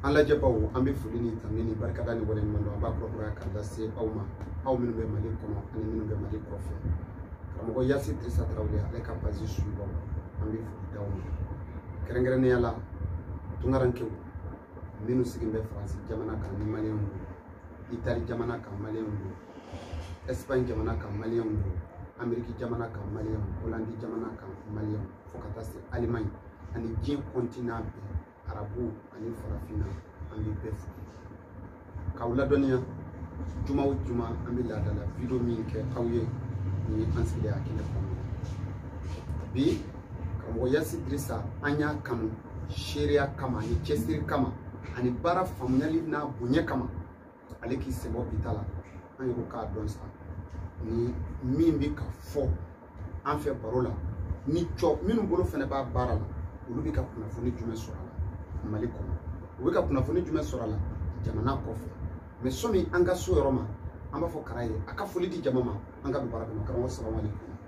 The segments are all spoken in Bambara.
an lajɛbaw an bɛ foli ni tanu ni barikada ni waleɲumandɔn an b'a kurakuraya ka lase aw ma aw minnu bɛ mali kɔnɔ ani minnu bɛ mali kɔfɛ karamɔgɔ yasi dirisa tarawele ale ka page suibaw an bɛ foli d'aw ma kɛrɛnkɛrɛnnenya la tunkarankew minnu sigilen bɛ faransi jamana kan ni maliyɛnw don itali jamana kan maliyɛnw don ɛsipaɲi jamana kan maliyɛnw don ameriki jamana kan maliyɛnw holandi jamana kan maliyɛnw fo ka taa se alimaɲi ani diɲɛ kɔntinan bɛɛ arabu ani farafinna an bɛ bɛɛ fo k'aw ladɔnniya juma o juma an bɛ laadala video min kɛ aw ye nin ye an sigilen a kɛnɛ kɔnɔ bi karamɔgɔ yasi dirisa an y'a kanu seereya kama ani cɛsiri kama ani baara faamuyali n'a bonya kama ale k'i sen bɔ bi ta la an yɛrɛ k'a dɔn sa ni min bɛ ka fɔ an fɛ baro la ni tɔ minnu bolo fana b'a baara la olu bɛ ka kunnafoni jumɛn sɔrɔ a la mali kɔnɔ u bɛ ka kunnafoni jumɛn sɔrɔ a la jamana kɔfɛ mɛ sɔni an ka s'o yɔrɔ ma an b'a fɔ kara ye a ka foli di jama ma an ka don baara kɔnɔ karamɔgɔ sababu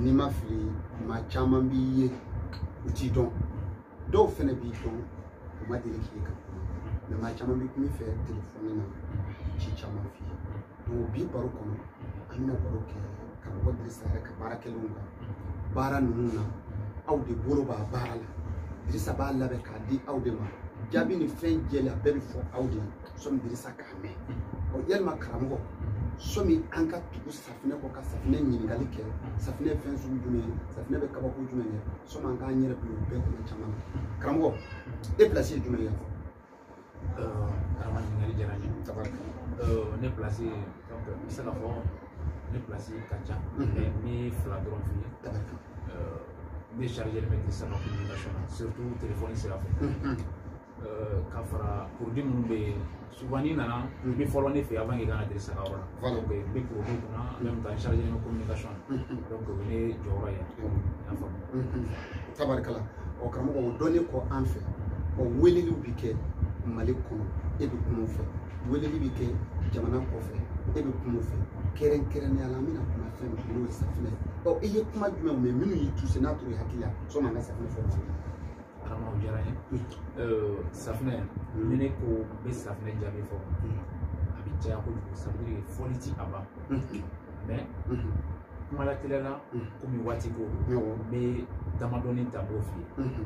ni n ma fili maa caman b'i ye u t'i dɔn dɔw fɛnɛ b'i dɔn u ma deli k'i kan mɛ maa caman bɛ kuma i fɛ telefɔni na ci caman f'i ye donc bi baro kɔnɔ an bɛna baro kɛ karamɔgɔ dirisa yɛrɛ ka baara kɛlenw kan baara ninnu na aw de bolo b'a baara la dirisa b'a labɛn k'a di aw de ma jaabi ni fɛn jɛlen a bɛɛ bɛ fɔ aw de ye sɔmi dirisa k'a mɛn yalima karamɔgɔ sɔmi an ka tugu safinɛ kɔ ka safinɛ ɲininkali kɛ safinɛ ye fɛn sugu jumɛn ye safinɛ bɛ kabako jumɛn kɛ sɔmi an k'an yɛrɛ bila o bɛɛ kɔnɔ caman na karamɔgɔ e pilasi ye jumɛn ye yan fɔ karama ɲininkali diyara n ye ne pilasi n bɛ se ka fɔ ne pilasi ka ca n ye fila dɔrɔn f'i ye ne chargélen bɛ dirisa ka communication na surtout telefɔni sira fɛ ka fara porodi minnu bɛ yen souvent n'i nana i bɛ fɔlɔ ne fɛ yen avant que i ka na dirisa ka yɔrɔ la donc n bɛ porodi kunna en même temps n chargé ni communication donc o ye ne jɔyɔrɔ ye n y'a faamu tabarikala ɔ karamɔgɔ o dɔnnen kɔ an fɛ ɔ weleliw bɛ kɛ mali kɔnɔ e bɛ kuma u fɛ weleli bɛ kɛ jamana kɔfɛ e bɛ kuma u fɛ kɛrɛnkɛrɛnnenya la an bɛna kuma fɛn min n'o ye safinɛ ɔ i ye kuma jumɛn mɛn minnu y'i tuse n'a tora i hakili la sɔnni an ka safinɛ fɔ mali la karamɔgɔ diyara n ye safunɛ ni ne ko n bɛ safunɛ jaabi fɔ a bɛ caya kojugu sabula fɔli ti a ban mɛ kuma lateliya la komi waati ko n bɛ damadɔni ta n b'o f'i ye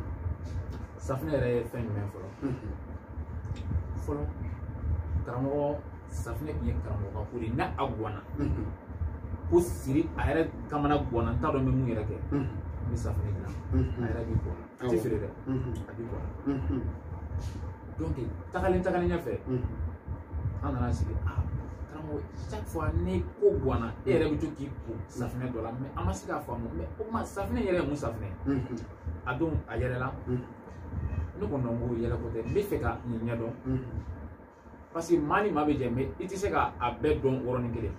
safunɛ yɛrɛ ye fɛn jumɛn fɔlɔ fɔlɔ karamɔgɔ safinɛ tun ye karamɔgɔ ka ko de ye n'a a gɔnna ko siri a yɛrɛ kamana gɔnna n t'a dɔn n bɛ mun yɛrɛ kɛ n bɛ safinɛ dilan a yɛrɛ b'i ko n'a a tɛ feere dɛ a b'i ko n'a donc tagalen tagalen ɲɛfɛ an nana sigi a karamɔgɔ chaque fois ni ko gɔnna e yɛrɛ bɛ to k'i ko safinɛ dɔ la mɛ an ma se k'a faamu mɛ o tuma safinɛ yɛrɛ ye mun safinɛ ye a don a yɛlɛla ne ko non ko yɛlɛko tɛ n b'a fɛ ka nin ɲɛdɔn parce que maa ni maa bɛ jɛ mɛ i tɛ se ka a bɛɛ dɔn yɔrɔnin kelen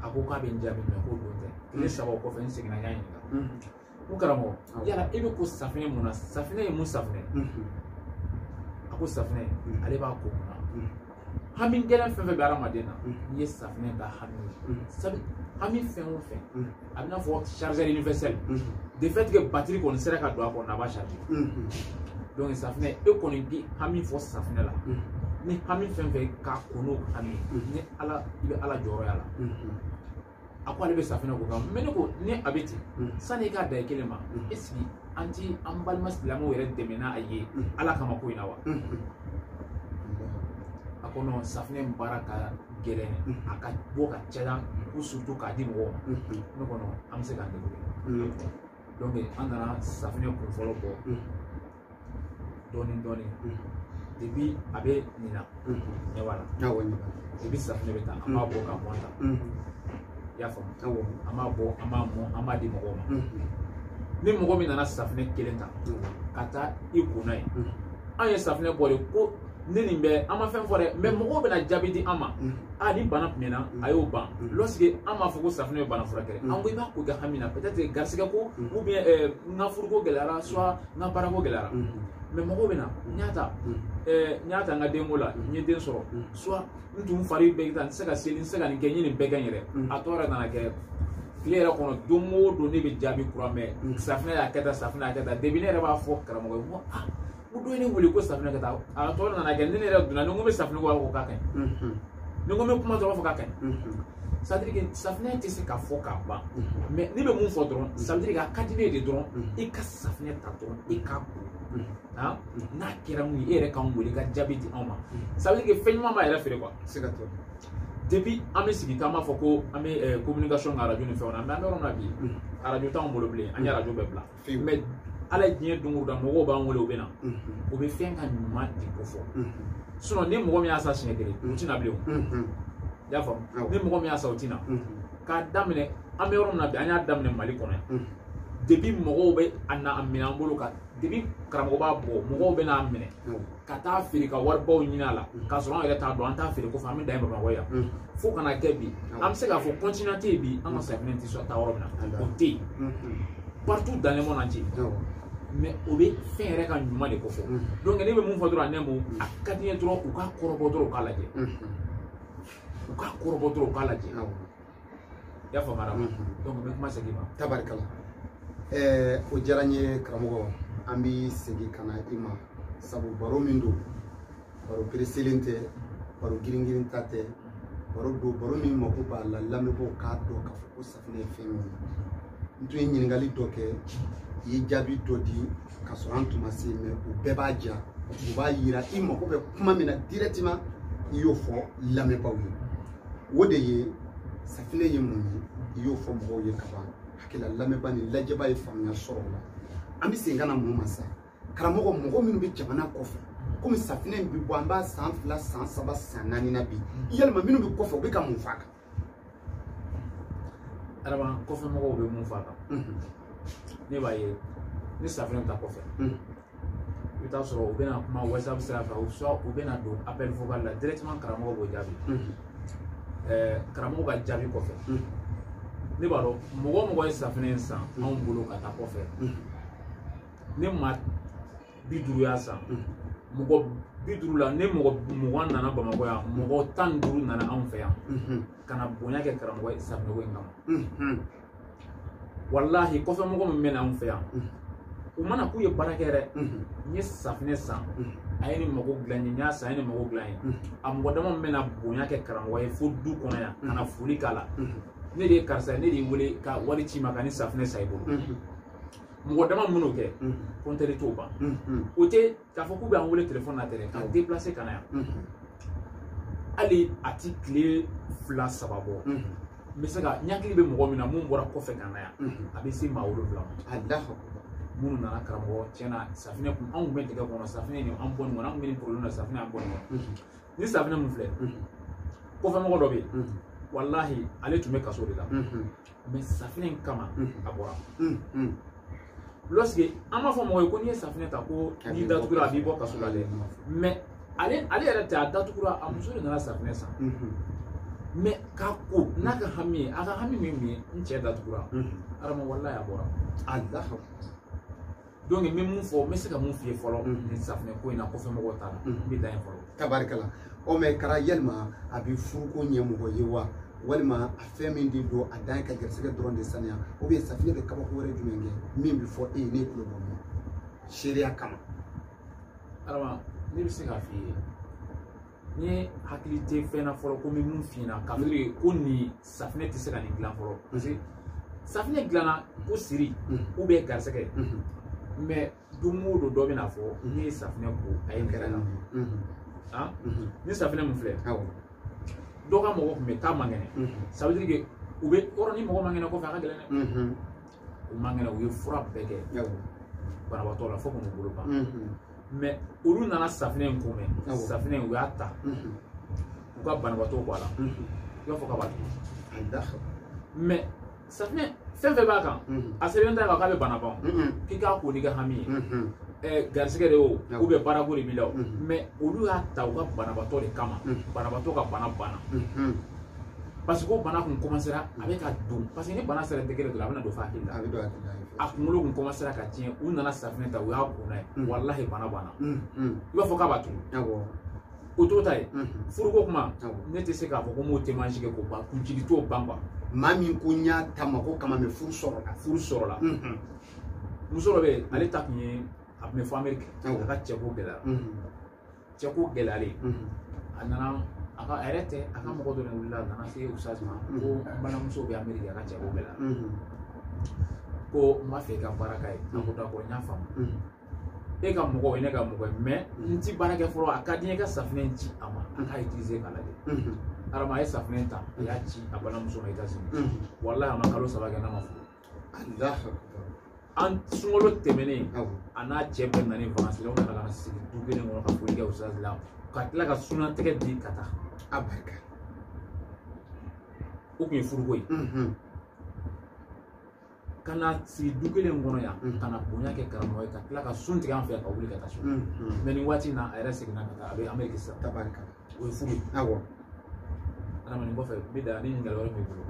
a ko k'a bɛ n jaabi mɛ k'o don tɛ tile saba o kɔfɛ n seginna n y'a ɲininka ko karamɔgɔ yala e bɛ ko safinɛ mun na safinɛ ye mun safinɛ a ko safinɛ ale b'a ko mun na hami gɛlɛn fɛn fɛn bɛ hadamaden na n'i ye safinɛ da hami hami fɛn o fɛn a bɛ n'a fɔ chargeur universel de fait que batiri kɔni sera ka don a kɔnɔ a b'a charger donc safinɛ e kɔni k'i hami fɔ safinɛ la ni hami fɛn fɛn k'a ko n'o hami ni ala i bɛ ala jɔyɔrɔ y'a la a ko ale bɛ safinɛ ko kan mɛ ne ko ni a bɛ ten sanni i k'a dan i kelen ma est-ce que an t'an balima silamɛw yɛrɛ dɛmɛ n'a ye ala kama ko in na wa a ko non safinɛ baara ka gɛlɛn a k'a bɔ k'a caya ko surtout k'a di mɔgɔw ma ne ko non an bɛ se k'an débrouiller donc an nana safinɛ kun fɔlɔ bɔ dɔɔnin dɔɔnin depuis a bɛ nin na ɲɛ b'a la depuis safinɛ bɛ taa an b'a bɔ ka mɔn ta i y'a faamu an b'a bɔ an b'a mɔn an b'a di mɔgɔw ma ni mɔgɔ min nana safinɛ kelen ta ka taa i ko n'a ye an ye safinɛ bɔ de ko ne nin bɛ an ma fɛn fɔ dɛ mɛ mɔgɔw bɛna jaabi di an ma a ni bana tun na a y'o ban lɔsike an m'a fɔ ko safunɛ ye bana furakɛ an ko i b'a ko i ka hami na peut-être garisɛgɛ ko ou bien n ka furuko gɛlɛyara soit n ka baarako gɛlɛyara mɛ mɔgɔw bɛ na n y'a ta n y'a ta n ka denko la n ye den sɔrɔ soit n tun fari bɛ ta n tɛ se ka seli n tɛ se ka nin kɛ n ye nin bɛɛ kɛ n yɛrɛ a tɔ yɛrɛ nana kɛ tile yɛrɛ kɔnɔ don o don ne bɛ jaabi kura mɛn safunɛ y'a kɛ tan safunɛ y'a kɛ tan depi ne yɛrɛ b'a fɔ karamɔgɔ ye n ko aa u don ne wele ko safunɛ ka taa a tɔ nana kɛ ni ne yɛrɛ donna ni n ko n bɛ safunɛ ko ko k'a ka ɲi ni n ko n bɛ kuma dɔrɔn fɔ k'a ka ɲi sadiri safunɛ tɛ se ka fɔ k'a ban mɛ ne bɛ mun fɔ dɔrɔn sadiri a ka di ne ye dɔrɔn i ka safunɛ ta dɔrɔn i k'a ko n'a kɛra mun ye e yɛrɛ k'an wele ka jaabi di anw ma sadiri fɛn ɲuman b'a yɛrɛ feere quoi se ka tɛmɛ depuis an bɛ sigi k'an b'a fɔ ko an bɛ communication kɛ arajo ni fɛnw na mɛ an bɛ yɔrɔ min na bi arajo t'anw bolo bilen an ye arajo bɛɛ bila mɛ ala ye diɲɛ don o don mɔgɔw b'an wele u bɛ na u bɛ fɛn ka ɲuman de kofɔ sinɔn ni mɔgɔ min y'a san siɲɛ kelen u tɛ na bilen o i y'a faamu ni mɔgɔ min y'a san u tɛ na k'a daminɛ an bɛ yɔrɔ min na bi an y'a daminɛ mali kɔnɔ yan depi mɔgɔw bɛ a na a minɛ an bolo ka depi karamɔgɔ b'a bɔ mɔgɔw bɛ n'a minɛ ka taa feere ka waribaw ɲini a la k'a sɔrɔ an yɛrɛ t'a dɔn an t'a feere kɔfɛ an bɛ dan ye bamakɔ yan fo ka na kɛ bi an bɛ se k'a fɔ continent tɛ yen bi an ka safinɛ tɛ sɔrɔ taa yɔrɔ min na o tɛ yen partout dans le monde entier mais o bɛ fɛn yɛrɛ ka ɲuman de kofɔ donc ne bɛ mun fɔ dɔrɔn a nɛmu a ka di n ye dɔrɔn u k'a kɔrɔbɔ dɔrɔn u k'a lajɛ u k'a kɔrɔbɔ dɔrɔn u k'a lajɛ i y'a faamuya donc n bɛ kuma segin i ma tabarikala ɛɛ o diyara n ye karamɔgɔ an bɛ segin ka na i ma sabu baro min don baro pereselen tɛ baro giringirinta tɛ baro don baro min mako b'a la lamɛnbaaw k'a dɔn k'a fɔ ko safinɛ ye fɛn min ye n tun ye ɲininkali dɔ kɛ i ye jaabi dɔ di k'a sɔrɔ an tun ma se a ma o bɛɛ b'a diya o b'a yira i mako bɛ kuma min na directement i y'o fɔ lamɛnbaaw ye o de ye safinɛ ye mun ye i y'o fɔ mɔgɔw ye kaban hakili la lamɛnbaa ni lajɛbaa ye faamuya sɔrɔ o la an bɛ segin ka na mun ma sa karamɔgɔ mɔgɔ minnu bɛ jamana kɔfɛ komi safinɛ in bɛ bɔ an b'a san fila san saba san naani na bi yala maa minnu bɛ kɔfɛ u bɛ ka mun f'a kan adama kɔfɛ mɔgɔw bɛ mun f'a kan ne b'a ye ni safinɛ taa kɔfɛ i bɛ t'a sɔrɔ u bɛna kuma whatsapp sira fɛ u sɔ u bɛna don appel vocal la directement karamɔgɔ b'o jaabi ɛɛ karamɔgɔ ka jaabi kɔfɛ ne b'a dɔn mɔgɔ o mɔgɔ ye safinɛ in san anw bolo ka taa kɔfɛ ni maa bi duuru y'a san mɔgɔ bi duuru la ni mɔgɔ mugan nana bamakɔ yan mɔgɔ tan ni duuru nana anw fɛ yan ka na bonya kɛ karamɔgɔ ye safinɛko in kama walahi kɔfɛ mɔgɔ min bɛ na anw fɛ yan u ma na k'u ye baara kɛ dɛ n ye safinɛ san a ye nin mago dilan n ye n y'a san a ye nin mago dilan n ye a mɔgɔ dama min bɛna bonya kɛ karamɔgɔ ye fo du kɔnɔ yan ka na foli k'a la ne de ye karisa ye ne de y'i wele ka wari ci i ma ka nin safinɛ san i bolo mɔgɔ dama min b'o kɛ kɔntɛri t'o ban o tɛ k'a fɔ k'u bɛ an wele telefɔni na tɛ dɛ ka déplacer ka na yan hali a tɛ tile fila saba bɔ n bɛ se ka n hakili bɛ mɔgɔ min na min bɔra kɔfɛ ka na yan a bɛ se maa wolonwula ma minnu nana karamɔgɔ tiɲɛ na safinɛ kun anw bɛ degun kɔnɔ safinɛ nin y'an bɔ nin kɔnɔ an bɛ nin problème na safinɛ y'an bɔ nin kɔnɔ nin safinɛ min filɛ kɔfɛmɔgɔ dɔ bɛ yen walahi ale tun bɛ kaso de la mais safinɛ in kama a bɔra lorsque an b'a fɔ mɔgɔ ye ko n'i ye safinɛ ta ko n'i datugura a b'i bɔ kaso la dɛ mais ale ale yɛrɛ tɛ a datugura a muso de nana safinɛ san mais k'a ko n'a ka hami ye a ka hami min ye n cɛ datugura adama walahi a bɔra a da donc n bɛ mun fɔ n bɛ se ka mun f'i ye fɔlɔ nin safunɛ ko in na kɔfɛ mɔgɔw t'a la n bɛ dan yen fɔlɔ. tabarikala ɔ mais kara yalima a bɛ furuko ɲɛ mɔgɔ ye wa walima a fɛn min de don a dan ye ka garisigɛ dɔrɔn de saniya ou bien safunɛ bɛ kabako wɛrɛ jumɛn kɛ min bɛ fɔ e ye ne tulo bɔ min seereya kama. adama ne bɛ se k'a f'i ye. ne hakili tɛ fɛn na fɔlɔ ko n bɛ mun f'i ɲɛna ça veut dire ko nin safinɛ tɛ se ka nin dilan fɔlɔ parce que safinɛ dilanna ko siri ou bien garisɛgɛ mais don o don dɔ bɛn'a fɔ ne ye safinɛ ko a ye kɛrɛ la han ni safinɛ mun filɛ dɔ ka mɔgɔ tun bɛ taa man kɛnɛ ça veut dire que u bɛ yɔrɔ ni mɔgɔ man kɛnɛ kɔfɛ a ka gɛlɛn dɛ u man kɛnɛ u ye fura bɛɛ kɛ banabaatɔ la fo k'u bolo ban mais olu nana safinɛ in ko mɛn safinɛ in u y'a ta u ka banabaatɔ ko a la i b'a fɔ k'a b'a tugu mais safinɛ fɛn fɛn b'a kan a sɛbɛnnen t'a kan k'a bɛ bana ban k'i k'a ko n'i ka hami ye garisigɛ de o ou bien baarako de b'i la o mais olu y'a ta u ka banabaatɔ de kama banabaatɔ ka bana banna parce que o bana kun commencera a bɛ ka don parce que ni bana sera degré dɔrɔn a bɛna don f'a hakili la a bɛ don a hakili la a kunkolo kun commencera ka tiɲɛ u nana safinɛ ta u y'a ko n'a ye mm. walahi bana banna mm, mm. i b'a fɔ k'a b'a tugu o t'o ta ye furuko kuma ne tɛ se k'a fɔ ko n b'o témoignage kɛ k'o ban kun jigi t'o ban quoi maa min ko n y'a ta ma ko kama mais furu sɔrɔla furu sɔrɔla muso dɔ bɛ yen ale ta tun ye a tun bɛ fo ameriki a ka cɛko gɛlɛya cɛko gɛlɛyalen a nana a ka a yɛrɛ tɛ a ka mɔgɔ dɔ de wulila a nana se ustaz ma ko n balimamuso bɛ ameriki a ka cɛko gɛlɛyara ko n b'a fɛ i ka baara k'a ye a ko d'accord n y'a faamu e ka mɔgɔ ye ne ka mɔgɔ ye mais n ti baara kɛ fɔlɔ a ka di n ye ka safinɛ in ci a ma a k'a utiliser k'a lajɛ adama a ye safinɛ ta a y'a ci a balimamuso ma États-Unis walahi a ma kalo saba kɛ n'a ma furu an sunkalo tɛmɛnen a n'a cɛ bɛɛ nana ni vacances sera u nana ka na sigi du kelen kɔnɔ ka foli kɛ o sira la ka tila ka sunnatigɛ di ka taa a barika o tun ye furuko ye ka na sigi du kelen kɔnɔ yan ka na bonya kɛ karamɔgɔ ye ka tila ka sun tigɛ an fɛ ka wuli ka taa so mais nin waati in na a yɛrɛ seginna ka taa a bɛ ameriki sisan tabarika o ye furu ye awɔ adamaden kɔfɛ bɛ da ni ɲininkali wɛrɛ b'i bolo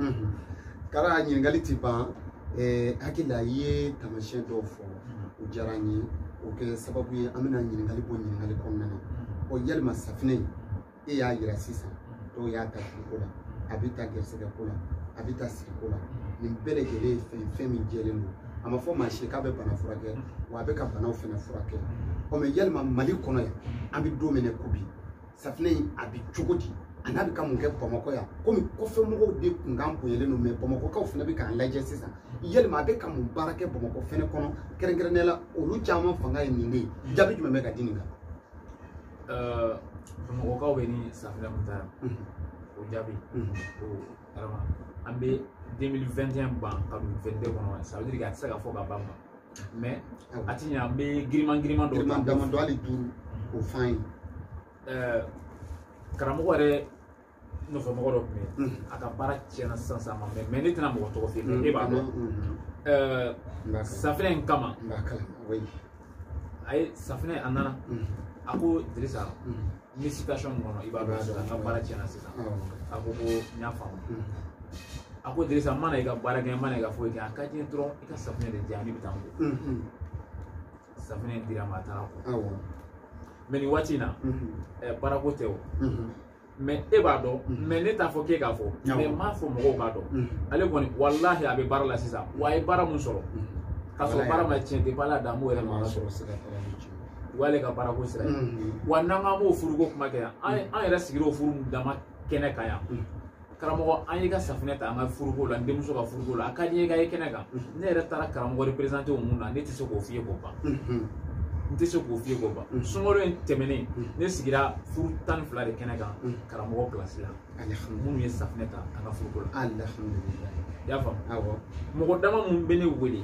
kara ɲininkali ti ban n hakili la i ye taamasiyɛn dɔw fɔ o diyara n ye o kɛ sababu ye an bɛna ɲininkali bɔ ɲininkali kɔnɔna na ɔ yalima safinɛ e y'a yira sisan dɔw y'a ta furuko la a bɛ ta gɛrɛsɛgɛ ko la a bɛ ta sigi ko la nin bɛɛ lajɛlen ye fɛn fɛn min jɛlen don a ma fɔ maa si k'a bɛ bana furakɛ wa a bɛ ka banaw fana furakɛ ɔ mais yalima mali kɔnɔ yan an bɛ don min na ko bi safinɛ in a bɛ cogo di an'a bɛ ka mun kɛ bamakɔ yan komi kɔfɛmɔgɔw de kunkan bonyalen don mɛ bamakɔkaw fana bɛ k'an lajɛ sisan yalima a bɛ ka mun baara kɛ bamakɔ fɛnɛ kɔnɔ kɛrɛnkɛrɛnnenya la olu caman fanga ye nin de ye jaabi jumɛn bɛ ka di nin kan bamakɔkaw bɛ ni safinɛ kun ta yan o jaabi o adama an bɛ 2021 ban ka don 22 kɔnɔ ça veut dire que a tɛ se ka fɔ ka ban mɛ a tiɲɛ an bɛ giriman giriman dɔw ta damadɔ hali duuru o fan ye karamɔgɔ yɛrɛ nɔfɛ mɔgɔ dɔ tun bɛ a ka baara tiɲɛna sisan sisan ma mɛ mɛ ne tɛna mɔgɔ tɔgɔ f'i ye e b'a dɔn safinɛ in kama a ye safinɛ a nana a ko dirisa ni situation min kɔnɔ i b'a dɔn sisan n ka baara tiɲɛna sisan a ko ko n y'a faamu a ko dirisa n ma na i ka baara kɛ n ma na i ka foyi kɛ a ka di n ye dɔrɔn i ka safunɛ de di yan ne bɛ taa n ko safunɛ dir'a ma a taara ko mɛ nin waati in na baarako tɛ o mɛ e b'a dɔn mɛ ne t'a fɔ k'e k'a fɔ mɛ n m'a fɔ mɔgɔw k'a dɔn ale kɔni walahi a bɛ baara la sisan wa a ye baara mun sɔrɔ k'a sɔrɔ baara ma tiɲɛ tɛ baara dan b'o yɛrɛ ma sɔrɔ o y'ale ka baarako sira ye wa n'an k'an b'o furuko kuma kɛ yan an yɛrɛ sigira o furu mun dama kɛnɛ kan yan karamɔgɔ an y'i ka safinɛ ta an ka furuko la n denmuso ka furuko la a ka di n ye ka ye kɛnɛ kan ne yɛrɛ taara karamɔgɔ représenter o mun na ne tɛ se k'o f'i ye k'o ban n tɛ se k'o f'i ye k'o ban sunkalo in tɛmɛnen ne sigira furu tan ni fila de kɛnɛ kan karamɔgɔ pilasi la minnu ye safinɛ ta an ka furuko la i y'a faamu mɔgɔ dama minnu bɛ ne wele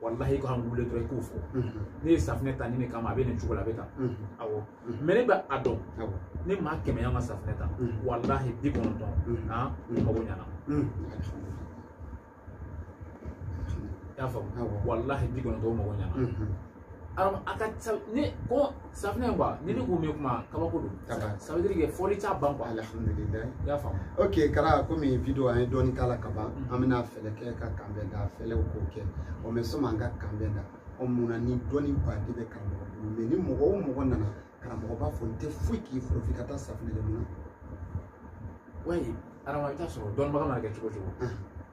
walahi ko an wele dɔrɔn i k'o fɔ ne ye safinɛ ta nin in kama a bɛ nin cogo la a bɛ tan awɔ mɛ ne bɛ a dɔn ni maa kɛmɛ y'an ka safinɛ ta walahi bi kɔnɔntɔn han mago ɲana y'a faamu walahi bi kɔnɔntɔn mago ɲana a ka ca ne ko safinɛ quoi ni ne ko n bɛ kuma kabako don ça veut dire que fɔli t'a ban quoi alhamdulillah i y'a faamu ok kara komi video an ye dɔɔni k'a la ka ban mm. an bɛna fɛɛrɛ kɛ ka kanbɛn da fɛlɛw k'o kɛ o mɛ sanni an ka kanbɛn da ɔ mun na ni dɔnniba de bɛ karamɔgɔ bolo mɛ ni mɔgɔ o mɔgɔ nana karamɔgɔ b'a fɔ n tɛ foyi k'i fɔlɔ f'i ka taa safinɛ de mun na wayi adama i t'a sɔrɔ dɔnnibaga mana kɛ cogo cogo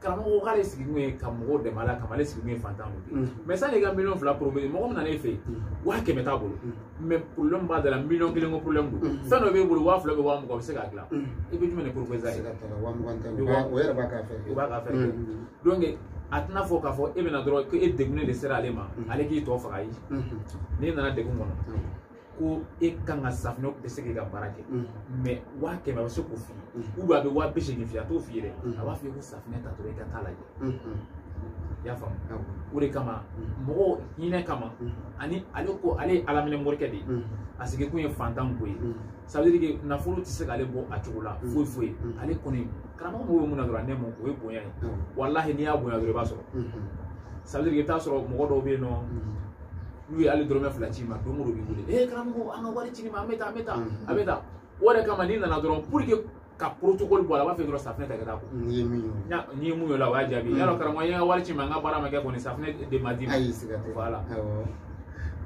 karamɔgɔ k'ale sigi kun ye ka mɔgɔw dɛmɛ ala kama ale sigi kun ye fantan de ye mɛ sanni ka miliyɔn fila proposer mɔgɔ min nan'e fɛ yen waa kɛmɛ t'a bolo mɛ porobilɛmu b'a da la miliyɔn kelen ko porobilɛmu don fɛn dɔ b'e bolo waa fila bɛ waa mugan o bɛ se k'a dilan i bɛ jumɛn de proposer a ye o yɛrɛ b'a ka fɛ o b'a ka fɛ donc a tɛna fɔ k'a fɔ e bɛna dɔrɔn ko e degunnen de sera ale ma ale k'i tɔ faga ye n'i nana degun kɔnɔ ko e kan ka safinɛ tɛ se k'i ka baara kɛ mɛ waa kɛmɛ a bɛ se k'o f'i ye ou bien a bɛ waa bi seegin f'i ye a t'o f'i ye dɛ a b'a f'i ye ko safinɛ ta dɔrɔn i ka t'a lajɛ i y'a faamu o de kama mɔgɔw hinɛ kama ani ale ko ale ye alaminɛ morikɛ de ye a sigi kun ye fantan ko ye ça veut dire que nafolo tɛ se k'ale bɔ a cogo la foyi foyi ale kɔni karamɔgɔ mago bɛ mun na dɔrɔn a nɛmu o ye bonya ye walahi n'i y'a bonya dɔrɔn i b'a sɔrɔ ça veut dire que i bɛ t'a sɔrɔ mɔgɔ dɔw bɛ yen nɔ n'u ye hali dɔrɔmɛ fila ci ma don o don b'i wele ee karamɔgɔ an ka wari ci ma an bɛ taa an bɛ taa an bɛ taa o de kama n'i nana dɔrɔn pour que ka protocole bɔ a la a b'a fɛ dɔrɔn safinɛ ta ka taa ko n'i ye min ye n'i ye mun ye o la o y'a jaabi yala karamɔgɔ n ye n ka wari ci ma n ka baara ma kɛ kɔni safinɛ de ma di ma ayi siga tɛ voilà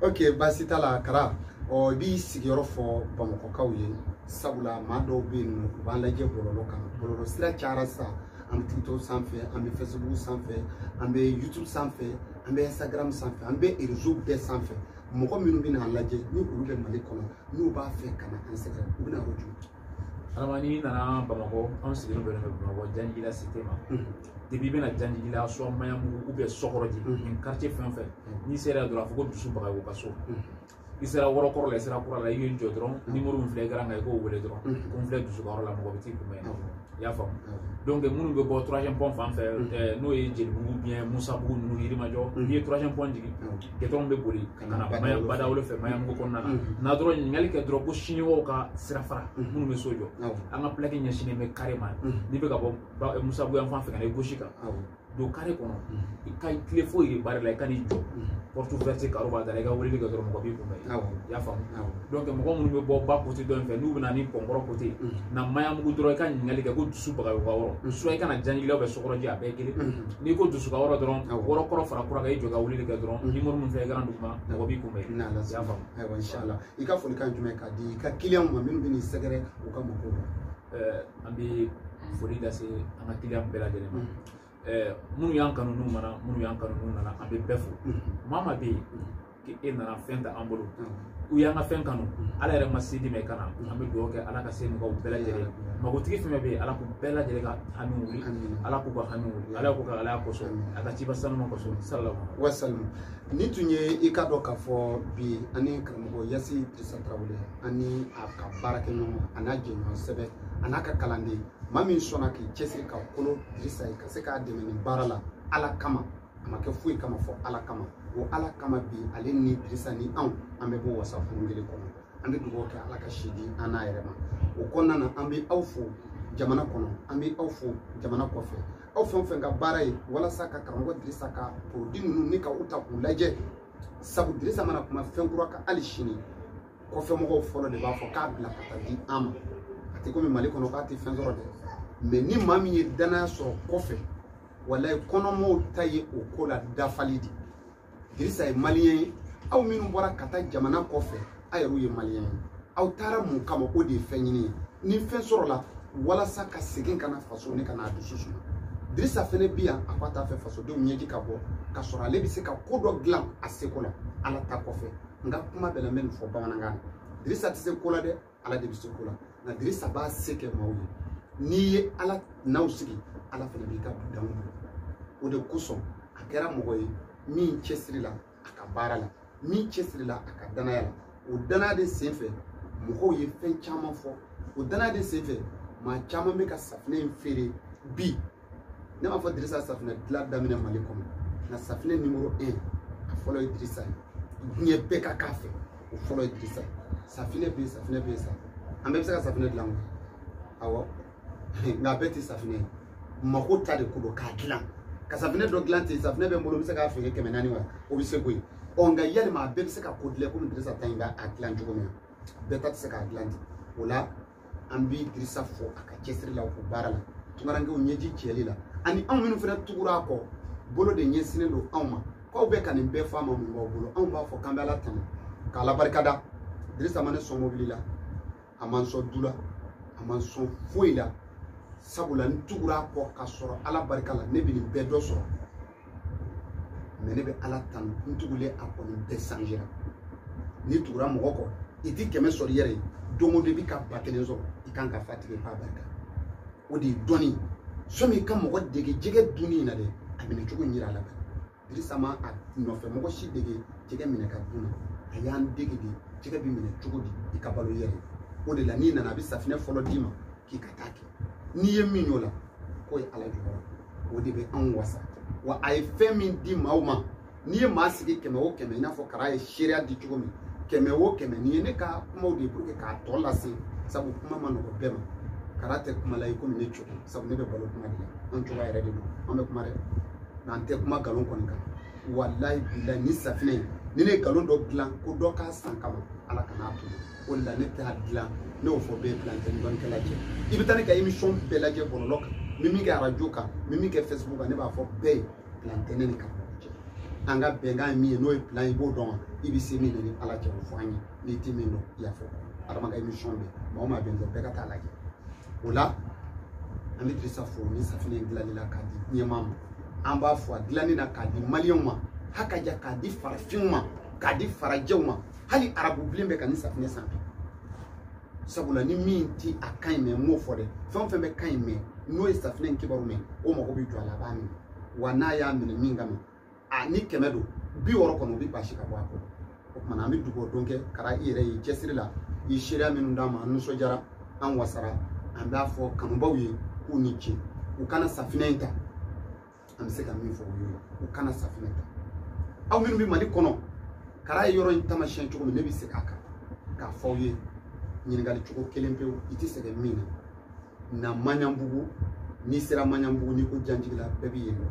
ok baasi t'a la kara ɔ i b'i sigiyɔrɔ fɔ bamakɔkaw ye sabula maa dɔw bɛ yen nɔ u b'an lajɛ bɔlɔlɔ kan bɔlɔlɔ sira cayara sisan an bɛ tiktok sanfɛ an bɛ facebook sanfɛ an bɛ youtube sanfɛ an bɛ instagram sanfɛ an bɛ rezo bɛɛ sanfɛ mɔgɔ minnu bɛna a lajɛ ni olu bɛ mali kɔnɔ n'u b'a fɛ ka na an sɛgɛrɛ u bɛ na yɔrɔ jumɛn adama n'i nana bamakɔ an sigilen bɛ bɛ bamakɔ janjigila site ma depuis i bɛ na janjigila soit mayamugu ou bien sɔkɔrɔji nin quartier fɛn o fɛn n'i sera yan dɔrɔn a fɔ ko dusu bagayogo ka so i sera yɔrɔ kɔrɔ la i sera kura la i y'i jɔ dɔrɔn nimoro min filɛ ekaran kan i k'o wele dɔrɔn ko n filɛ dusu ka yɔrɔ la mɔgɔ bɛ t'i kunbɛn i y'a faamu donc minnu bɛ bɔ troisième pont fan fɛ n'o ye jelibugu ou bien musabugu ninnu yirimajɔ n'i ye troisième pont jigin gudɔrɔn bɛ boli ka na maya ba dawolo fɛ mayamugu kɔnɔ n'i nana dɔrɔn ɲininkali kɛ dɔrɔn ko siniwaw ka sira fara minnu bɛ so jɔ an ka pilaki ɲɛsinnen bɛ kare ma n'i bɛ ka bɔ musabugu yan fan fɛ ka na i gauche kan don kare kɔnɔ i ka tile foyi de baara la i ka n'i jɔ porte ouverte karo b'a da la i ka weleli kɛ dɔrɔn mɔgɔ b'i kunbɛn i y'a faamu donc mɔgɔ minnu bɛ bɔ ba kote dɔ in fɛ n'u bɛna ni kɔnkɔrɔ kote na mayamugu dɔrɔn i ka ɲininkali kɛ ko dusu bagayogo ka yɔrɔ soit i ka na janjigila ou bien sɔkɔrɔji a bɛɛ kelen n'i ko dusu ka yɔrɔ dɔrɔn yɔrɔ kɔrɔ fara kura kan i jɔ ka weleli kɛ dɔrɔn nimoro min filɛ ekaran duguma mɔgɔ b'i kunbɛn i y'a faamu ayiwa inshallah i ka folikan jumɛn ka di i ka kiliyanw ma minnu bɛ n'i sɛgɛrɛ u ka magow la an bɛ foli lase an ka kiliyan bɛɛ lajɛlen ma minnu y'an kanu n'u ma na minnu y'an kanu n'u nana an bɛ bɛɛ fo maa maa bɛ yen k'e nana fɛn ta an bolo u y'an ka fɛn kanu ala yɛrɛ ma se di mɛ kana an bɛ dugawu kɛ ala ka se mɔgɔw bɛɛ lajɛlen magotigi fɛn bɛ yen ala k'u bɛɛ lajɛlen ka hami wuli ala k'u ka hami wuli ala k'u ka ala kosɔn a ka ciba sanuma kosɔn salalahu wasalam nin tun ye i k'a dɔn k'a fɔ bi an ni karamɔgɔ yasi dirisa tarawele ani a ka baarakɛ ɲɔgɔn a n'a jɛɲɔgɔn sɛbɛ a n'a ka kalanden maa min sɔnna k'i cɛsiri ka kolo dirisa ye ka se k'a dɛmɛ nin baara la ala kama a ma kɛ foyi kama fo ala kama o ala kama bi ale ni dirisa ni anw an bɛ bɔ wasa furu kelen kɔnɔ an bɛ dugawu kɛ ala ka si di an n'a yɛrɛ ma o kɔnɔna na an bɛ aw fo jamana kɔnɔ an bɛ aw fo jamana kɔfɛ aw fɛn o fɛn ka baara ye walasa ka karamɔgɔ dirisa ka porodi ninnu ɲini ka u ta k'u lajɛ sabu dirisa mana kuma fɛn kura kan hali sini kɔfɛmɔgɔw fɔlɔ de b'a fɔ k'a bila ka taa di an ma a tɛ komi mali kɔnɔ k'a tɛ fɛn sɔrɔ dɛ mɛ ni maa min ye danaya sɔrɔ kɔfɛ walayi kɔnɔmɔɔw ta ye o ko la dafali de dirisa ye maliyɛn ye aw minnu bɔra ka taa jamana kɔfɛ a yɛrɛw ye maliyɛn ye aw taara mun kama o de ye fɛn ɲini ye ni fɛn sɔrɔla walasa ka segin ka na faso ni ka na a dusu suma dirisa fɛnɛ bi yan a ko a t'a fɛ fasodenw ɲɛji ka bɔ ka sɔrɔ ale bɛ se ka ko dɔ dilan a seko la ala ta kɔfɛ n ka kuma bɛɛ la n bɛ nin fɔ bamanankan na dirisa tɛ se ko la dɛ ala de bɛ se ko la nka dirisa b'a se kɛ maaw ye n'i ye ala n'aw sigi ala fɛnɛ b'i ka dudanw o de kosɔn a kɛra mɔgɔ ye min cɛsirila a ka baara la min cɛsirila a ka danaya la o danaya de senfɛ mɔgɔw ye fɛn caman fɔ o danaya de senfɛ maa caman bɛ ka safinɛ in feere bi ne m'a fɔ dirisa ye safinɛ dilan daminɛ mali kɔnɔ nka safinɛ nimoro 1 a fɔlɔ ye dirisa ye diɲɛ bɛɛ ka k'a fɛ o fɔlɔ ye dirisa ye safinɛ bɛ yen safinɛ bɛ yen sa an bɛɛ bɛ se ka safinɛ dilan awɔ nka a bɛɛ tɛ safinɛ ye mako ta de ko don k'a dilan ka safinɛ dɔ dilan ten safinɛ bɛ n bolo n bɛ se k'a feere kɛmɛ naani wa o bɛ se ko ye ɔ nka yalima a bɛɛ bɛ se ka ko dilan komi dirisa ta in b'a dilan cogo min na bɛɛ ta tɛ se k'a dilan ten o la an bɛ dirisa fɔ a ka cɛsiri la o baara la tunkarankew ɲɛji cɛli la ani anw minnu fana tugura a kɔ bolo de ɲɛsinnen don anw ma k'aw bɛ ka nin bɛɛ fɔ a ma mun b'aw bolo anw b'a fɔ k'an bɛ ala tanu k'ala barika da dirisa ma ne sɔn mobili la a ma n sɔn du la a ma n sɔn foyi la sabula n tugura a kɔ ka sɔrɔ ala barika la ne bɛ nin bɛɛ dɔ sɔrɔ mɛ ne bɛ ala tanu n tugulen a kɔ nin bɛɛ sanjera n'i tugura mɔgɔ kɔ i ti kɛmɛ sɔrɔ i yɛrɛ ye don o don i bɛ ka ba kelen sɔrɔ i kan ka fa tigɛ k'a barika o de ye dɔnni sɔmi i kana mɔgɔ dege jɛgɛ dunni in na dɛ a minɛ cogo in yira a la bɛɛ dirisa ma a nɔfɛ mɔgɔ si dege jɛgɛ minɛ ka dun na a y'an dege de jɛgɛ bɛ minɛ cogo di i ka balo yɛrɛ o de la n'i nana a bɛ safinɛ fɔlɔ d'i ma k'i ka taa kɛ n'i ye min y'o la k'o ye ala jɔyɔrɔ o de bɛ anw wasa wa a ye fɛn min di maaw ma n'i ye maa sigi kɛmɛ o kɛmɛ i n'a fɔ kara ye seereya di cogo min kɛmɛ o kɛmɛ nin ye ne ka kumaw de ye pour que k'a tɔ lase sabu kuma ma nɔgɔ bɛɛ ma kara tɛ kuma la i komi ne cogo sabu ne bɛ balo kuma de la an cogoya yɛrɛ de don an bɛ kuma dɛ nka n tɛ kuma nkalon kɔni kan walayi bilayi ni safinɛ in ni ne ye nkalon dɔ dilan ko dɔ k'a san kama ala kana a to o de la ne t'a dilan ne y'o fɔ bɛɛ ye plan tɛ n ni dɔnnikɛla cɛ i bɛ taa ne ka émission bɛɛ lajɛ bɔlɔlɔ kan n bɛ min kɛ arajo kan n bɛ min kɛ facebook kan ne b'a fɔ bɛɛ ye plan tɛ ne ni kara cɛ an ka bɛnkan ye min ye n'o ye plan ye i b'o dɔn wa i bɛ se min na i ni ala cɛ o fɔ an ye n'i ti min dɔn i y'a fɔ adama ka émission bɛ maa o maa bɛ n dɔn bɛɛ ka taa lajɛ o la an bɛ dirisa fo nin safinɛ in dilanni la k'a di diɲɛmaa ma an b'a fo a dilanni na k'a di maliyɛnw ma hakaja k'a di farafinw ma k'a di farajɛw ma hali arabu bilen bɛ ka nin safinɛ san bi sabula ni min ti a kan in mɛ n b'o fɔ dɛ fɛn o fɛn bɛ kan in mɛ n'o ye safinɛ in kibaru mɛ o mago bɛ jɔ a la a b'a minɛ wa n'a y'a minɛ min kama a ni kɛmɛ don bi wɔɔrɔ kɔnɔ u bɛ basi ka bɔ a kɔrɔ o kumana an bɛ dugawu don kɛ kara i yɛrɛ y'i cɛsiri la i ye seereya minnu d'an ma an nisɔndiyara an wasara an b'a fɔ kanubaw ye k'u ni ce u ka na safinɛ in ta an bɛ se ka min fɔ u ye u ka na safinɛ ta aw minnu bɛ mali kɔnɔ kara ye yɔrɔ in tamasiyɛn cogo min ne bɛ segin a kan k'a fɔ aw ye ɲininkali cogo kelen pewu i tɛ sɛgɛn min na na maɲanbugu n'i sera maɲanbugu n'i ko janjigila bɛɛ bɛ yen dɔn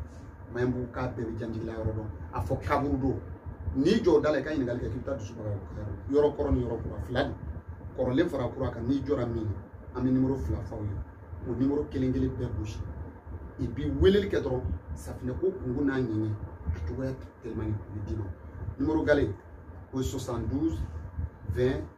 maɲanbugukaw bɛɛ bɛ janjigila yɔrɔ dɔn a fɔ kaburudo n'i jɔ da la i ka ɲininkali kɛ k'i bɛ taa dusubaga yɔrɔ kɔrɔ ni yɔrɔ kura fila de kɔrɔlen fara kura kan n'i jɔra min na an bɛ nimoro fila f'aw ye o nimoro kelen kelen bɛɛ gosi i bi weleli kɛ dɔrɔn safinɛ ko kunko n'a ɲɛɲɛ a cogoya tɛmɛni u bɛ d'i ma nimoro gale o ye 72 20